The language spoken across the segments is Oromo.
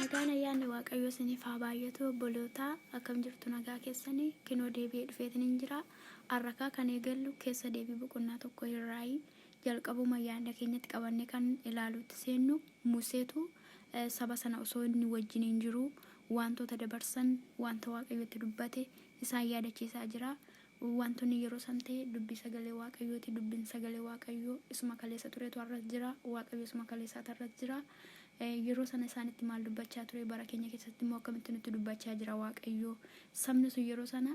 Nagaan ayyaanni waaqayyoo isiniif haa baay'atu obbolootaa akkam jirtu nagaa keessanii kinoo deebi'ee dhufeetiniin jira har'akaa kan eegallu keessa deebii boqonnaa tokko irraayi Jalqabuma yaadna keenyatti qabannee kan ilaaluutti seennu, Museetu saba sana osoo inni wajjiniin jiruu waantoota dabarsan, waanta Waaqayyo itti dubbate isaan yaadachiisaa jira. Waantonni yeroo san ta'e dubbii sagalee Waaqayyooti. Dubbiin sagalee Waaqayyoo isuma kaleessa turetu har'as jira. Waaqayyo isuma kaleessaati har'as jira. Yeroo sana isaanitti maal dubbachaa ture? Bara keenya keessatti immoo akkamitti nutti dubbachaa jira Waaqayyo? Sabni sun yeroo sana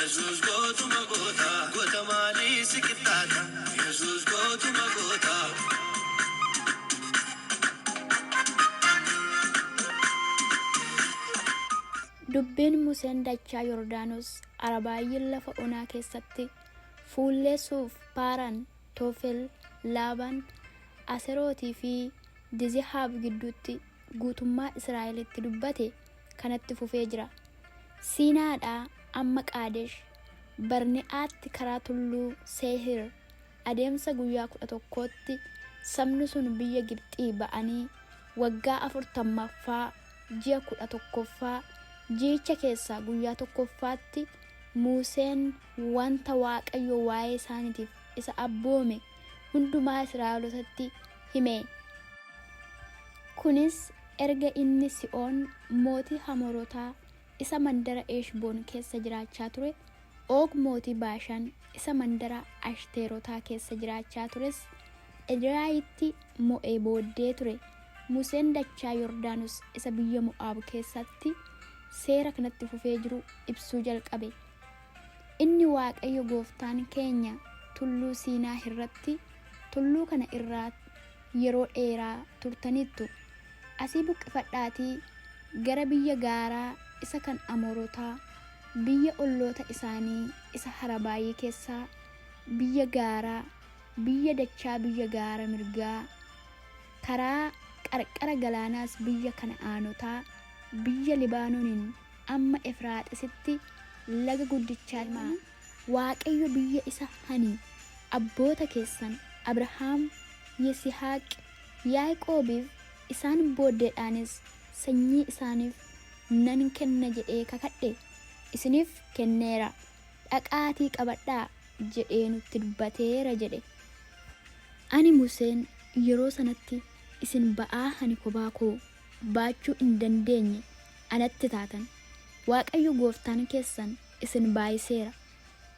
Yesuus gootuma goota. Goota maalii si qixxaata. Yesuus gootuma goota. Dubbiin Museen dachaa Yordaanos Arabaayyiin lafa onaa keessatti fuullee Suuf, Paaraan, Toofel, Laabaan, Aserootii fi Dizehaab gidduutti guutummaa Israa'elitti dubbate, kanatti fufee jira. Siinaadhaa amma Qaadesh Barne'aatti karaa tulluu Seehir adeemsa guyyaa 11tti sabni sun biyya Gibxii ba'anii waggaa 40ffaa ji'a 11ffaa ji'icha keessaa guyyaa 1ffaatti Muuseen wanta Waaqayyo waa'ee isaaniitiif isa abboome hundumaa Israa'elotatti hime. Kunis erga inni Si'oon mootii Hamorotaa isa mandara Heshboon keessa jiraachaa ture, Oog mootii Baashaan isa mandara Ashteerotaa keessa jiraachaa tures Ediraayitti mo'ee booddee ture. Museen dachaa Yordaanos isa biyya Mo'aab keessatti seera kanatti fufee jiru ibsuu jalqabe. Inni Waaqayyo gooftaan keenya tulluu Siinaa hirratti tulluu kana irraa yeroo dheeraa turtaniittu, asii buqqifadhaatii gara biyya gaaraa isa kan Amoorotaa, biyya olloota isaanii isa Harabaayii keessaa, biyya gaaraa, biyya dachaa biyya gaara mirgaa, karaa qarqara galaanaas biyya Kana'aanotaa, biyya Libaanoonin amma Efraaxisitti laga guddichaa deemaa, Waaqayyo biyya isa ani abboota keessan Abrahaam, Yisihaaq, Yaaqoobiif, isaan booddeedhaanis sanyii isaaniif nan kenna jedhee kakadhe isiniif kenneera, dhaqaatii qabadhaa jedhee nutti dubbateera jedhe. Ani Museen yeroo sanatti isin ba'aa ani kophaa koo. baachuu hin dandeenye anatti taatan, Waaqayyo gooftaan keessan isin baayiseera,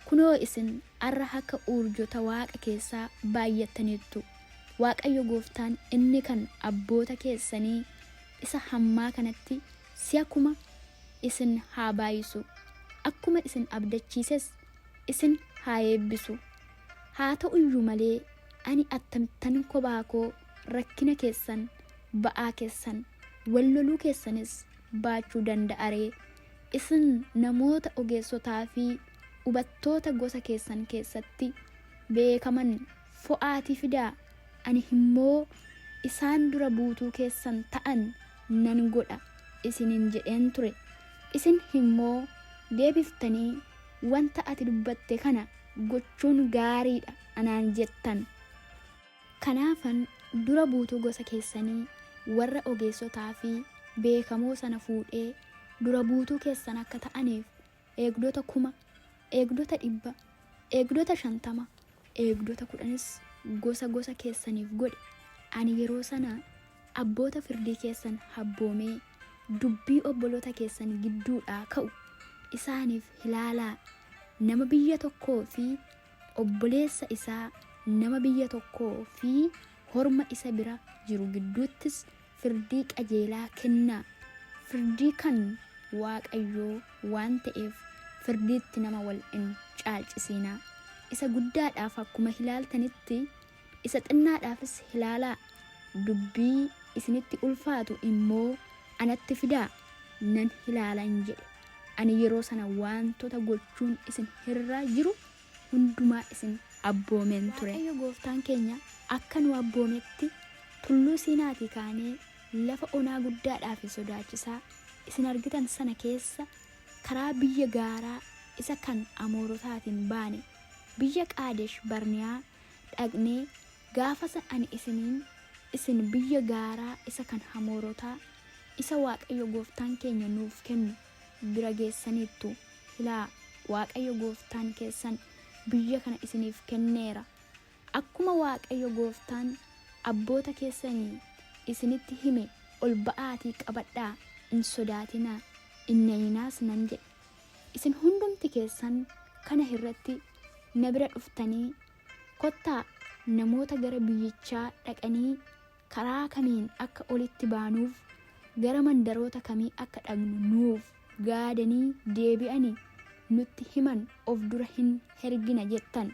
kunoo isin arra akka uurjota waaqa keessaa baayyattaniittu, Waaqayyo gooftaan inni kan abboota keessanii isa hammaa kanatti si'a kuma isin haa baayisu, akkuma isin abdachiises isin haa eebbisu, haa ta'uyyuu malee ani attamittan kophaa koo rakkina keessan ba'aa keessan wal loluu keessanis baachuu danda'a ree? Isin namoota ogeessotaa fi ubattoota gosa keessan keessatti beekaman fo'aatii fidaa, ani immoo isaan dura buutuu keessan ta'an nan godha isinin jedheen ture. Isin immoo deebiftanii wanta ati dubbatte kana gochuun gaarii dha anaan jettan. Kanaafan dura buutuu gosa keessanii warra ogeessotaa fi beekamoo sana fuudhee dura buutuu keessan akka ta'aniif eegdota kuma, eegdota dhibba, eegdota shantama, eegdota kudhanis gosa gosa keessaniif godhe, ani yeroo sana abboota firdii keessan habboomee dubbii obboloota keessan gidduudhaa ka'u isaaniif ilaalaa, nama biyya tokkoo fi Obboleessa isaa nama biyya tokkoo fi horma isa bira jiru gidduuttis firdii qajeelaa kennaa. Firdii kan Waaqayyoo waan ta'eef firdiitti nama wal hin caalcisiinaa. Isa guddaadhaaf akkuma ilaaltanitti, isa xinnaadhaafis ilaalaa, dubbii isinitti ulfaatu immoo anatti fidaa, nan ilaala in jedhe. Ani yeroo sana waantota gochuun isin irra jiru hundumaa isin abboomeen ture. Waaqayyo gooftaan keenya akka nu abboometti, Tulluu Siinaatii kaanee lafa onaa guddaadhaa fi sodaachisaa isin argitan sana keessa karaa biyya gaaraa isa kan Amoorotaatiin baane, biyya Qaadesh Barniyaa dhaqnee, Gaafa san ani isiniin, Isin biyya gaaraa isa kan Hamoorotaa, isa Waaqayyo gooftaan keenya nuuf kennu bira geessaniittu, ilaa, Waaqayyo gooftaan keessan biyya kana isiniif kenneera, akkuma Waaqayyo gooftaan abboota keessanii isinitti hime ol ba'aatii qabadhaa, hin sodaatinaa, hin nayinaas nan jedhe. Isin hundumti keessan kana irratti na bira dhuftanii, Kottaa, namoota gara biyyichaa dhaqanii karaa kamiin akka olitti baanuuf, gara mandaroota kamii akka dhaqnu nuuf gaadanii deebi'ani nutti himan of dura hin hergina jettan.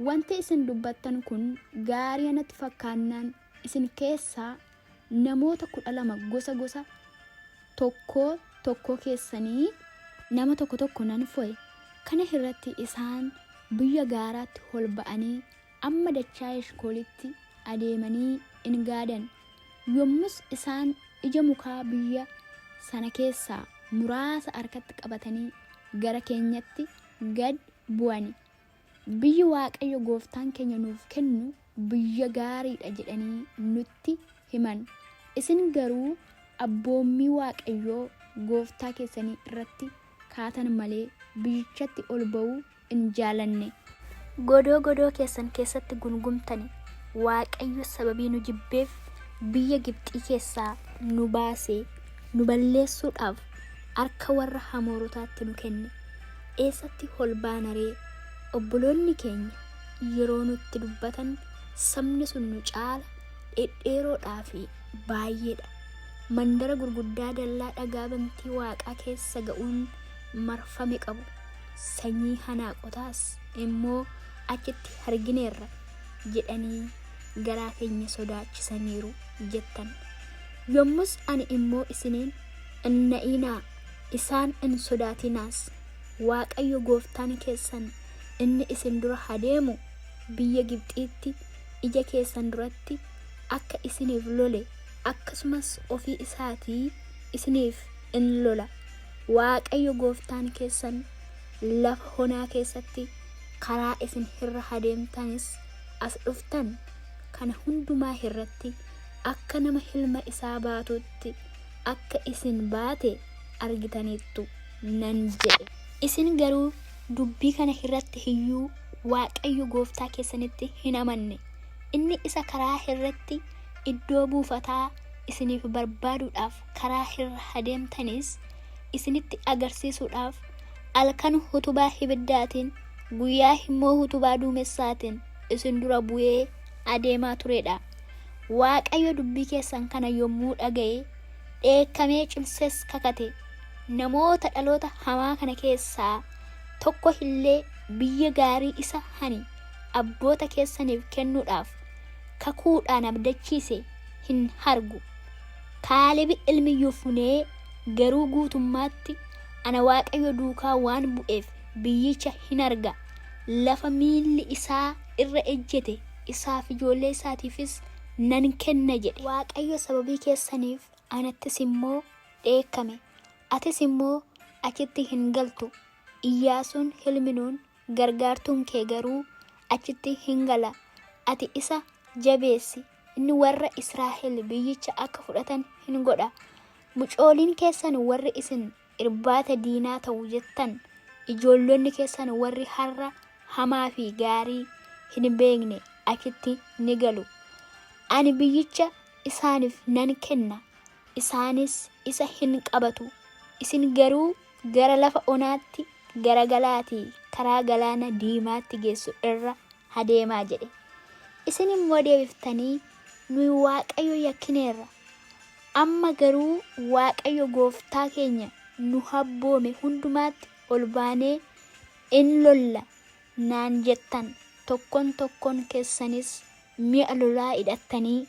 Wanti isin dubbattan kun gaaria natti fakkaannaan isin keessaa Namoota kudha lama gosa gosa tokkoo tokkoo keessanii. nama tokko tokko nan fo'e. Kana irratti isaan biyya gaaraatti hol ba'anii amma dachaa Eshkoolitti adeemanii in gaadan. Yommus isaan ija mukaa biyya sana keessaa muraasa harkatti qabatanii gara keenyatti gad bu'ani. Biyyi Waaqayyo gooftaan keenya nuuf kennu biyya gaarii dha jedhanii nutti himan. Isin garuu abboommii Waaqayyoo gooftaa keessanii irratti kaatan malee biyyichatti ol ba'uu hin jaalanne. Godoo godoo keessan keessatti gungumtani, Waaqayyo sababii nu jibbeef biyya Gibxii keessaa nu baasee nu balleessuudhaaf harka warra Hamoorotaatti nu kenne. eessatti ol baana ree? Obboloonni keenya yeroo nutti dubbatan sabni sun nu caala dhedheeroodhaa fi baay'eedha. Mandara gurguddaa dallaa dhagaa bantii waaqaa keessa ga'uun marfame qabu. Sanyii hanaaqotaas immoo achitti argineerra jedhanii garaa keenya sodaachisaniiru jettan. Yommus ani immoo isiniin hin na'inaa Isaan in sodaatinaas, Waaqayyo gooftaan keessan inni isin dura hadeemu biyya Gibxiitti ija keessan duratti akka isiniif lole, akkasumas ofii isaatii isiniif in lola, Waaqayyo gooftaan keessan lafa honaa keessatti karaa isin hirra hadeemtanis as dhuftan kana hundumaa hirratti akka nama hilma isaa baatuutti, akka isin baate argitaniittu nan jedhe. Isin garuu dubbii kana irratti iyyuu Waaqayyo gooftaa keessanitti hin amanne, inni isa karaa irratti iddoo buufataa isiniif barbaaduudhaaf karaa irra adeemtanis isinitti agarsiisuudhaaf halkan utubaa ibiddaatiin, guyyaa immoo utubaa duumessaatiin isin dura bu'ee adeemaa ture dha. Waaqayyo dubbii keessan kana yommuu dhaga'e, dheekkamee cimsees kakate, namoota dhaloota hamaa kana keessaa tokko illee biyya gaarii isa ani abboota keessaniif kennuudhaaf kakuudhaan abdachiise hin argu. Kaalebi ilmi Yofunee garuu guutummaatti ana Waaqayyo duukaa waan bu'eef biyyicha hin arga, lafa miilli isaa irra ejjete isaa fi ijoollee isaatiifis nan kenna jedhe. Waaqayyo sababii keessaniif anattis immoo dheekkame, atis immoo achitti hin galtu, Iyyaasuun ilmi Nuun gargaartuun kee garuu achitti hin gala, ati isa jabeessi, inni warra Israa'el biyyicha akka fudhatan hin godha, mucooliin keessan warri isin irbaata diinaa ta'u jettan, ijoollonni keessan warri har'a hamaa fi gaarii hin beekne achitti ni galu. Ani biyyicha isaaniif nan kenna, isaanis isa hin qabatu, isin garuu gara lafa onaatti garagalaatii karaa Galaana Diimaatti geessu irra adeemaa jedhe. Isin immoo deebiftanii, Nuyi Waaqayyo yakkineerra, Amma garuu Waaqayyo gooftaa keenya nu habboome hundumaatti ol baanee in lolla naan jettan, tokkon tokkon keessanis mi'a lolaa hidhattanii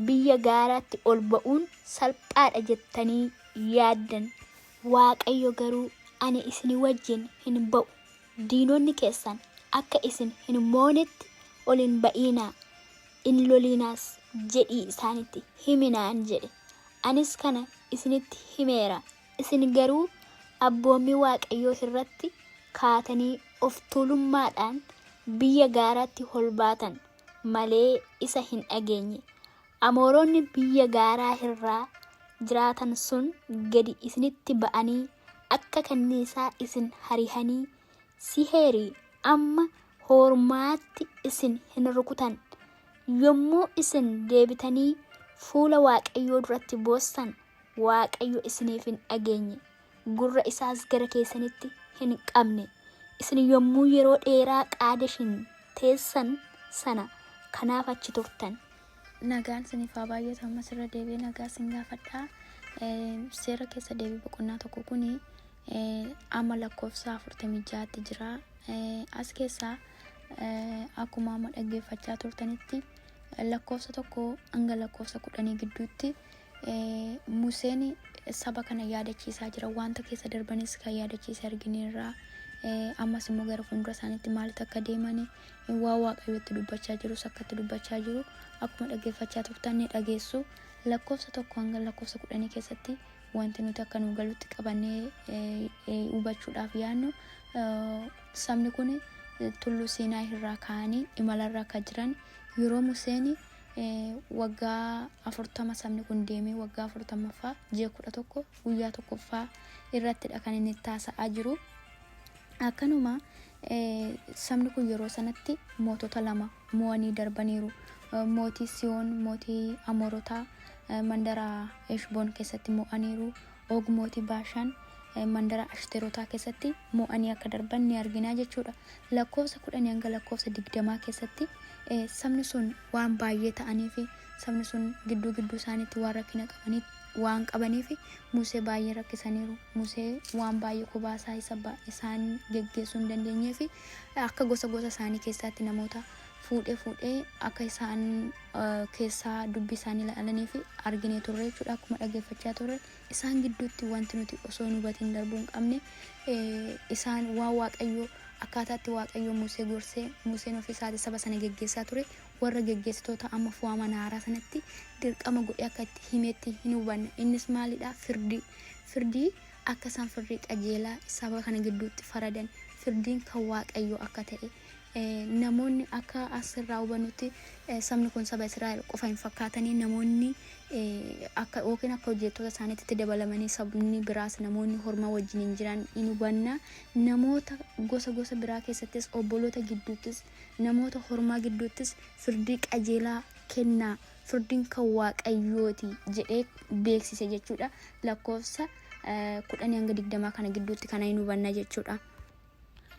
biyya gaaraatti ol ba'uun salphaa dha jettanii yaaddan. Waaqayyo garuu, Ani isinii wajjin hin ba'u, diinonni keessan akka isin hin moonetti ol hin ba'iinaa, Hin loliinaas jedhii isaanitti himi naan jedhe, anis kana isinitti himeera, isin garuu abboommii Waaqayyoo irratti kaatanii of tuulummaadhaan biyya gaaraatti ol baatan malee isa hin dhageenye, Amooronni biyya gaaraa irra jiraatan sun gadi isinitti ba'anii akka kanniisaa isin harihanii Siheerii, amma hoormaatti isin hin rukutan. Yommuu isin deebitanii fuula Waaqayyoo duratti boossan, Waaqayyo isiniif hin dhageenye, gurra isaas gara keessanitti hin qabne. Isin yommuu yeroo dheeraa Qaadeshin teessan sana kanaaf achi turtan. Nagaan isiniif haa baay'atu ammas irra deebi'ee nagaa isin gaafadha. Eh, Seera keessa deebii boqonnaa tokko kuni amma lakkoofsa 46tti jira. As keessaa akkuma amma dhaggeeffachaa turtanitti lakkoofsa tokko hanga lakkoofsa kudhanii gidduutti Museen saba kana yaadachiisaa jira. Wanta keessa darbanis kan yaadachiise argineerra. Ammas immoo gara fuuldura isaaniitti maalitti akka deeman waa waaqayyootti dubbachaa jirus akkatti dubbachaa jiru akkuma dhaggeeffachaa turtan ni dhageessu. Lakkoofsa tokko hanga lakkoofsa kudhanii keessatti Wanti nuti akka nuu galutti qabannee hubachuudhaaf yaadnu sabni kun tulluu Siinaay irraa ka'anii imalarra akka jiran yeroo Museen waggaa afurtama sabni kun deemee waggaa afurtamaffaa ji'a kudha tokko guyyaa tokkoffaa irrattidha kan inni itti haasa'aa jiru. Akkanuma sabni kun yeroo sanatti mootota lama mo'anii darbaniiru. Mootii Siyoon, mootii Amoorotaa mandara Eshboon keessatti mo'aniiru. Og mootii Baashaan mandara Ashterotaa keessatti mo'anii akka darban ni arginaa jechuudha. Lakkoofsa kudhanii hanga lakkoofsa digdamaa keessatti sabni sun waan baay'ee ta'anii fi sabni sun gidduu gidduu isaaniitti waan rakkina qabaniif waan qabaniif Musee baay'ee rakkisaniiru. Musee waan baay'ee kophaa isaa isa ba- isaan geggeessuu hin dandeenyee fi akka gosa gosa isaanii keessaatti namoota fuudhee fuudhee akka isaan eh, keessaa dubbii isaanii ilaalanii fi arginee turre jechuudha akkuma dhaggeeffachaa turre isaan gidduutti wanti nuti osoo hin hubatiin darbuu hin qabne eh, isaan waan waaqayyoo akkaataatti waaqayyoo Musee gorsee Museen ofii isaati saba sana geggeessaa ture warra geggeessitoota amma fo'aman haaraa sanatti dirqama godhee akka itti himetti hin hubanna. Innis maalidha? Firdii. Firdii akka isaan firdii qajeelaa saba kana gidduutti faradan, firdiin kan Waaqayyoo akka ta'e, eh, namoonni akka asirraa hubannutti eh, sabni kun saba Israa'el qofa hin fakkaatanii namoonni eh, akka yookiin akka hojjettoota isaaniitti dabalamanii sabni biraas namoonni hormaa wajjin hin jiran hin hubanna. Namoota gosa gosa biraa keessattis obboloota gidduuttis Namoota hormaa gidduuttis firdii qajeelaa kennaa, firdiin kan Waaqayyoo ti jedhee beeksise jechuu dha. Lakkoofsa 10-20 kana gidduutti kana hin hubanna jechuu dha.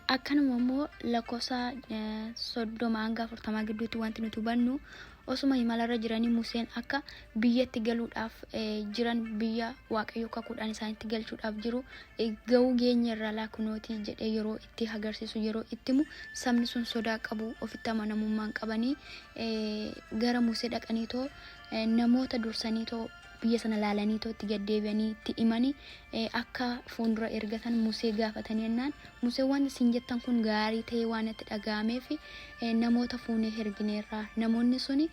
Akkanuma immoo lakkoofsa 30-40 gidduutti wanti nuti hubannu osuma imalarra jiranii Museen akka biyyatti galuudhaaf jiran biyya Waaqayyo kakuudhaan isaanitti galchuudhaaf jiru ga'uu geenyerra laa kunooti jedhee yeroo itti agarsiisu yeroo itti himu sabni sun sodaa qabu ofitti amanamummaan qabanii gara Musee dhaqanii too namoota dursanii too biyya sana laalanii too itti gaddeebi'anii itti himanii akka fuuldura ergatan Musee gaafatanii jennaan Musee waan isin jettan kun gaarii ta'ee waan itti dhaga'ameef namoota fuunee ergineerra namoonni suni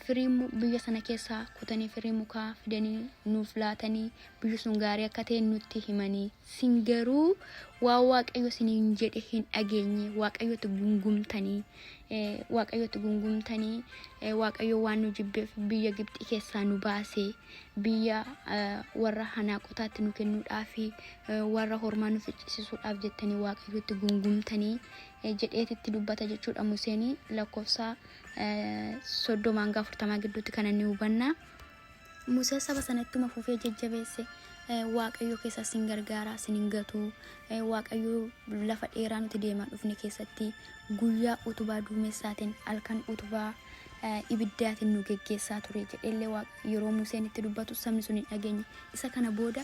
firii biyya sana keessaa kutanii firii mukaa fidanii nuuf laatanii biyyi sun gaarii akka ta'e nutti himanii Isin garuu waan Waaqayyo isiniin jedhe hin dhageenye. Waaqayyotti gungumtanii, eh, Waaqayyotti gungumtanii, eh, Waaqayyo waan nu jibbeef biyya Gibxii keessaa nu baase, biyya eh, warra hanaaqotaatti nu kennuudhaa fi eh, warra hormaa nu ficcisiisuudhaaf jettanii Waaqayyotti gungumtanii eh, jedheetitti dubbata jechuudha Museenii lakkoofsa eh, soddomaa hanga afurtamaa gidduutti kana ni hubanna. Musee saba sana ittuma fufee jajjabeesse waaqayyo keessa sin gargaara sin hin gatu waaqayyo lafa dheeraa nuti deemaa dhufne keessatti guyyaa utubaa duumessaatiin halkan utubaa ibiddaatiin nu geggeessaa ture jedheellee yeroo Museen itti dubbatu sabni sun hin dhageenye isa kana booda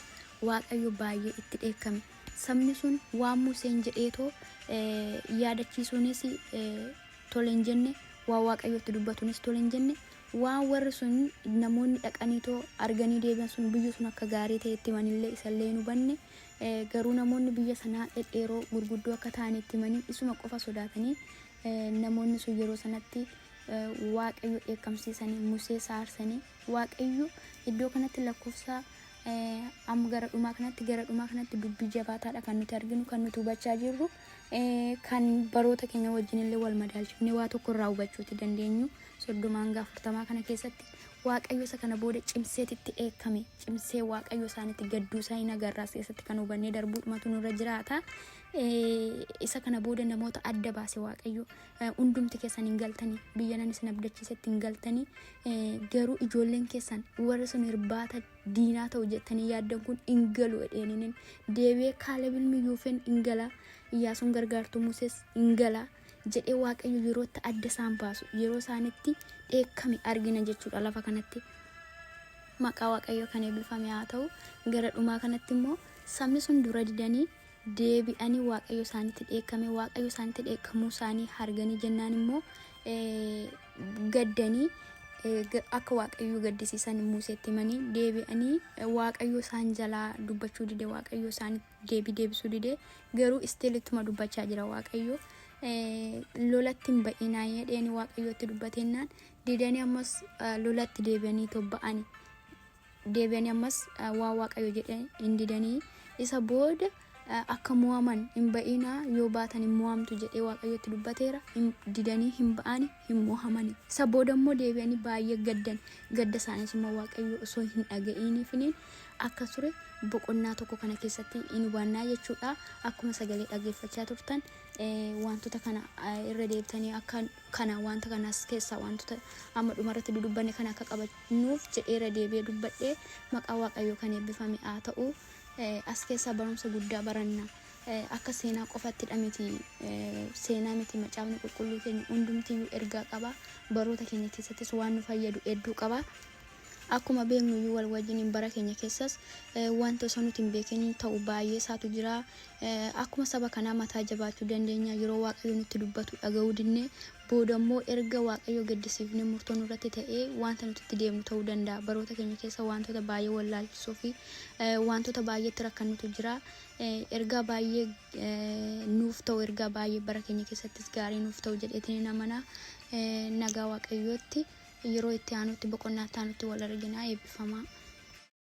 waaqayyo baay'ee itti dheekkame sabni sun waan Museen jedheetoo yaadachiisuunis tole hin jenne waa waaqayyo itti dubbatuunis tole hin jenne Waan warri sun, namoonni dhaqaniitoo arganii deebi'an sun biyyi sun akka gaarii ta'e itti himanillee isallee hin hubanne, garuu namoonni biyya sanaa dhedheeroo gurguddoo akka ta'an itti himanii isuma qofa sodaatanii namoonni sun yeroo sanatti Waaqayyo dheekkamsiisanii Musee saarsanii Waaqayyo iddoo kanatti lakkoofsa amma gara dhumaa kanatti gara dhumaa kanatti dubbii jabaataadha kan nuti arginu kan nuti hubachaa jirru. kan baroota keenya wajjin illee wal madaalchifnee waa tokko irraa hubachuuti dandeenyu soddoma hanga afurtamaa kana keessatti waaqayyo isa kana booda cimseeti itti eekkame cimsee waaqayyo isaanitti gadduu isaa hin agarraas keessatti kan hubannee darbuudhumatu nurra jiraata isa kana booda namoota adda baase waaqayyo hundumti keessan hin galtanii biyya nan isin abdachiisetti hin galtanii garuu ijoolleen keessan warra sun irbaata diinaa ta'u jettanii yaaddan kun hin galu jedheeninin deebi'ee kaaleb ilmi yuufen hin gala iyyaasuun gargaartuu musees hin gala jedhee waaqayyo yerootti adda isaan baasu yeroo isaanitti dheekkame argina jechuudha lafa kanatti maqaa waaqayyo kan eebbifame haa ta'u gara dhumaa kanatti immoo sabni sun dura didanii deebi'anii Waaqayyo isaanitti dheekkame. Waaqayyo isaanitti dheekkamuu isaanii arganii jennaan immoo gaddanii akka Waaqayyo gaddisiisan Muuseetti himanii deebi'anii Waaqayyo isaan jalaa dubbachuu dide Waaqayyo isaan deebii deebisuu dide garuu istiil ittuma dubbachaa jira Waaqayyo. lolatti hin ba'inaa jedheen waaqayyootti dubbatennaan didanii ammas lolatti deebi'anii tobba'ani. deebi'anii ammas eh, waan waaqayyo jedhe hin didanii isa booda eh, akka mo'aman hin ba'ina yoo baatan hin mo'amtu jedhee waaqayyotti dubbateera hin didanii hin ba'ani hin mo'amani isa booda immoo deebi'anii baay'ee gaddan gadda isaaniis immoo waaqayyo osoo hin dhaga'iiniifiniin akka ture boqonnaa tokko kana keessatti hin hubannaa jechuudha akkuma sagalee dhaggeeffachaa turtan eh, wantoota kana eh, irra deebitanii akka kana wanta kanas keessaa wantoota amma dhuma irratti dudubbanne kana akka qabannuuf jedhee irra deebi'ee dubbadhe maqaa waaqayyoo kan eebbifame haa ta'u as keessaa barumsa guddaa baranna akka seenaa qofattidha miti seenaa miti macaafni qulqulluu keenya hundumtiyyuu ergaa qaba baroota keenya keessattis waan nu fayyadu hedduu qaba Akkuma beeknu iyyuu wal wajjiniin bara keenya keessas wanti osoo nuti hin beekin ta'u baay'ee isaatu jira. Akkuma saba kanaa mataa jabaachuu dandeenya yeroo Waaqayyo nutti dubbatu dhaga'uu didne booda immoo erga Waaqayyo gaddisiifne murtoo nurratti ta'ee wanta nuti itti deemnu ta'uu danda'a. Baroota keenya keessa wantoota baay'ee wallaalchisoo fi wantoota baay'eetti rakkannutu jira. Ergaa baay'ee nuuf ta'u ergaa baay'ee bara keenya keessattis gaarii nuuf ta'u jedheetiin hin amana nagaa waaqayyootti yeroo itti aanutti boqonnaa itti aanutti wal arginaa eebbifamaa.